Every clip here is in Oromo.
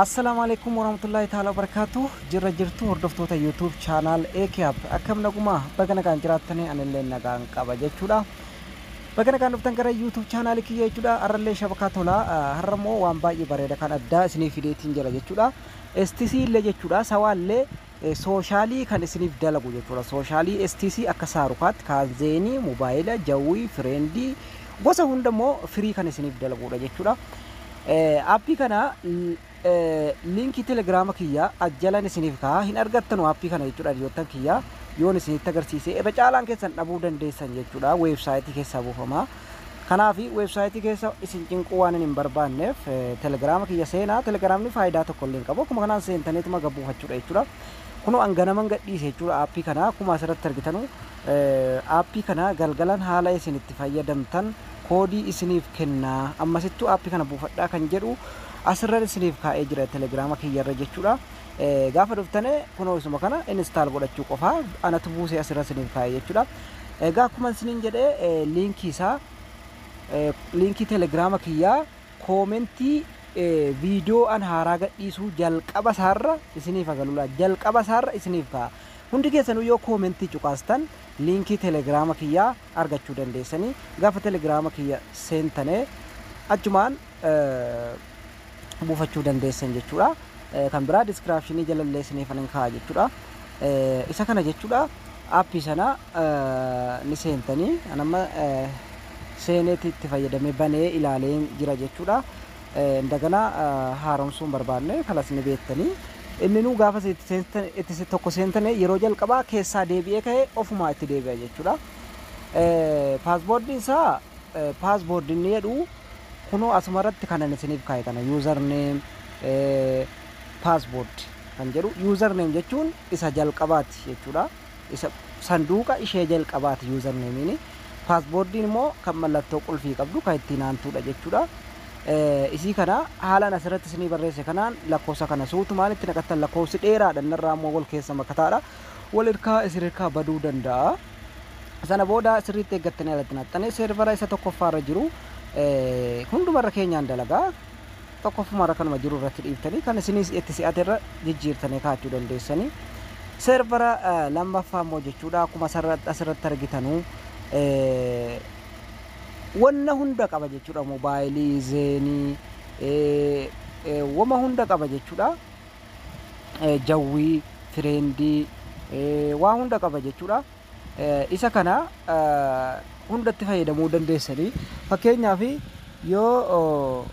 Assalaamu alaikum warahmatullahi ta'ala barakaatu jirra jirtu hordoftoota YouTube channel AKAP akkam nagumaa baga nagaan jiraattanii anillee nagaan qaba jechuudha. Baga nagaan dhuftan gara YouTube channel kiyya jechuudha. Har'allee shabakaa tola har'a immoo waan baay'ee bareeda kan addaa isiniif fideetiin jira jechuudha. STC illee jechuudha sawaallee Sooshaalii kan isiniif dalagu jechuudha. Sooshaalii STC akka Saarukaatti, Kaanzeenii, Mubaayila, Jawwii, Fireendii gosa hunda immoo firii kan isiniif dalaguudha jechuudha. Aappii kana liinkii telegiraama kiyya ajjalan isiniif ka'a hin argattanu aappii kana jechuudha hiriyoottan kiyya yoon isinitti agarsiise irra caalaan keessan dhabuu dandeessan jechuudha weebsaayitii keessaa buufama. Kanaaf website keessa isin cinquu waanin hin barbaanneef telegram kiyya seenaa. Telegramni faayidaa tokko illee hin qabu. Akkuma kanaan seentaniituma gad buufachuudha jechuudha. Kunoo an ganaman gadhiise jechuudha aappii kana akkuma asirratti argitanu aappii kana galgalan haala isin itti fayyadamtan koodii isiniif kennaa ammasittuu aappii kana buufadhaa kan jedhu asirran isiniif kaa'ee jira telegrama kiyyarra jechuudha. Gaafa dhuftane kunoo isuma kana install godhachuu qofaa anatu buusee asirra isiniif kaa'e jechuudha. Egaa akkuma isiniin jedhe liinkii isaa liinkii telegiraama kiyyaa koomentii viidiyoo an haaraa gadhiisuu jalqaba isaarra isiniif agalula jalqaba isaarra isiniif ka'a. Hundi keessanuu yoo koomentii cuqaastan liinkii telegiraama kiyyaa argachuu dandeessanii gaafa telegiraama kiyya seentane achumaan buufachuu dandeessan jechuudha. Kan biraa diskiraapshinii jalallee isiniifan hin kaa'a jechuudha. Isa kana jechuudha appii sana ni seentanii an amma seeneeti itti fayyadamee banee ilaalee jira jechuudha. Indagana haaromsuun barbaanne kanas ni beektanii. Inni nuu gaafa itti seentan itti se- tokko seentane yeroo jalqabaa keessaa deebi'ee ka'ee ofumaa itti deebi'a jechuudha. Paasboordiin isaa paasboordi inni jedhu Kunoo asuma irratti kanan isiniif kaa'e kana user name password kan jedhu user name jechuun isa jalqabaati jechuudha. Isa sanduuqa ishee jalqabaati user name'n. Password'n immoo kan mallattoo qulfii qabdu kan ittiin aantuudha jechuudha. Isii kana haalaan asirratti isinii barreesse kanaan lakkoofsa kana suutumaan itti naqattan lakkoofsi dheeraadha inni irraa immoo wal keessa makataadha. Wal irkaa isin irkaa baduu danda'a. Sana booda sirriitti eeggattanii alatti naqxanii seervara isa tokkoffaa irra jiru hunduma irra keenyaan dalagaa tokkoffuma irra kanuma jiru irratti dhiiftanii kan isinis itti si'ate irra jijjiirtanii kaa'achuu dandeessanii. Seervara lammaffaa immoo jechuudha akkuma asirratti argitanuu wanna hunda qaba jechuudha moobaayilii zeenii wama hunda qaba jechuudha. jawwii, tireendii, waa hunda qaba jechuudha. Isa kana hundatti fayyadamuu dandeessanii fakkeenyaaf yoo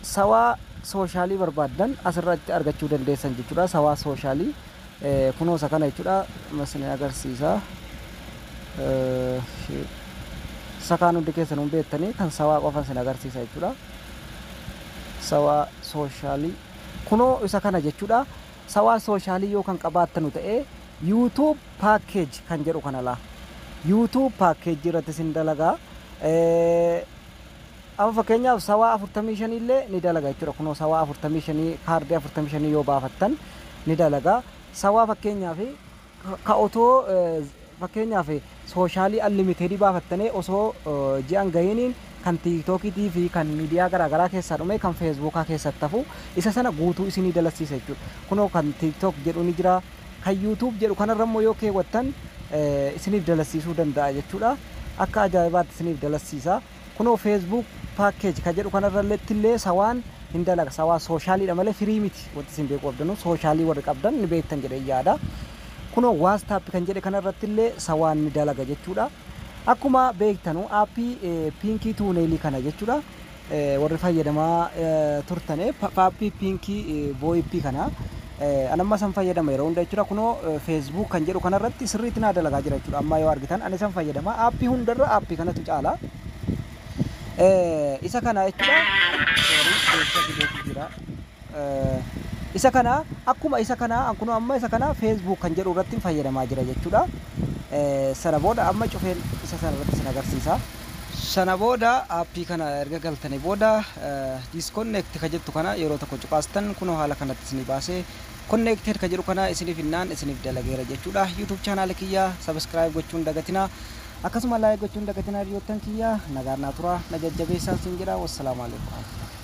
sawaa sooshaalii barbaaddan asirratti argachuu dandeessan jechuudha. Sawaa sooshaalii kunoo isa kana jechuudha. Masni agarsiisa. Isa kaan hundi keessan hin beektanii kan sawaa qofa isin agarsiisa jechuudha. Sawaa sooshaalii. Kunoo isa kana jechudha. Sawaa soshaalii yoo kan qabaattanu ta'e YouTube package kan jedhu kana laa. YouTube package irratti isin dalaga. Amma fakkeenyaaf sawaa 45 illee ni dalaga jechuudha. Kunoo sawaa 45 kaardii 45 yoo baafattan ni dalaga. Sawaa fakkeenyaaf Ka otoo fakkeenyaaf sooshaalii anlimitedii baafattanee osoo ji'a hin gahiiniin kan tiiktookiitii fi kan miidiyaa garaa garaa keessaa dhumee kan feesbuukaa keessatti hafu isa sana guutuu isinii dalassiisa jechuudha. Kunoo kan tiiktook jedhu ni jira. Kan yuutuub jedhu kanarra immoo yoo keewwattan isiniif dalassiisuu danda'a jechuudha. Akka ajaa'ibaatti isiniif dalassiisa. Kunoo Facebook package ka jedhu kanarralletti illee sawaan hin dalaga. Sawaa sooshaaliidha malee firii miti. Wanti isin beekuu qabdanu sooshaalii warri qabdan ni beektan jedheen yaada. Kunoo WhatsApp kan jedhe kanarratti illee sawaan ni dalaga jechuudha. Akkuma beektanu aappii piinkii tuuneelii kana jechuudha. Warri fayyadamaa turtane aappii piinkii VoIP kana. An amma isan fayyadama yeroo hunda jechuudha kunoo Facebook kan jedhu kanarratti sirriitti naa dalagaa jira jechuudha amma yoo argitan an isan fayyadama aappii hundarra aappii kanatu caala isa kana jechuudha isa kana akkuma isa kana an kunoo amma isa kana Facebook kan jedhu irratti fayyadamaa jira jechuudha sana booda amma cufeen isa sana irratti isin agarsiisa. Sana booda app kana erga galtani booda disconnect ka jettu kana yeroo tokko cuqaastan kunoo haala kanatti isinii baasee connected ka jedhu kana isinii finnaan isiniif dalageera jechuudha. YouTube channel kiyya subscribe gochuu hin dagatinaa. Akkasuma like gochuu hin dagatinaa hiriyoottan kiyya. Nagaan naa turaa na jajjabeessaan siin jedha. Wassalaamu alaikum warahmatullahi.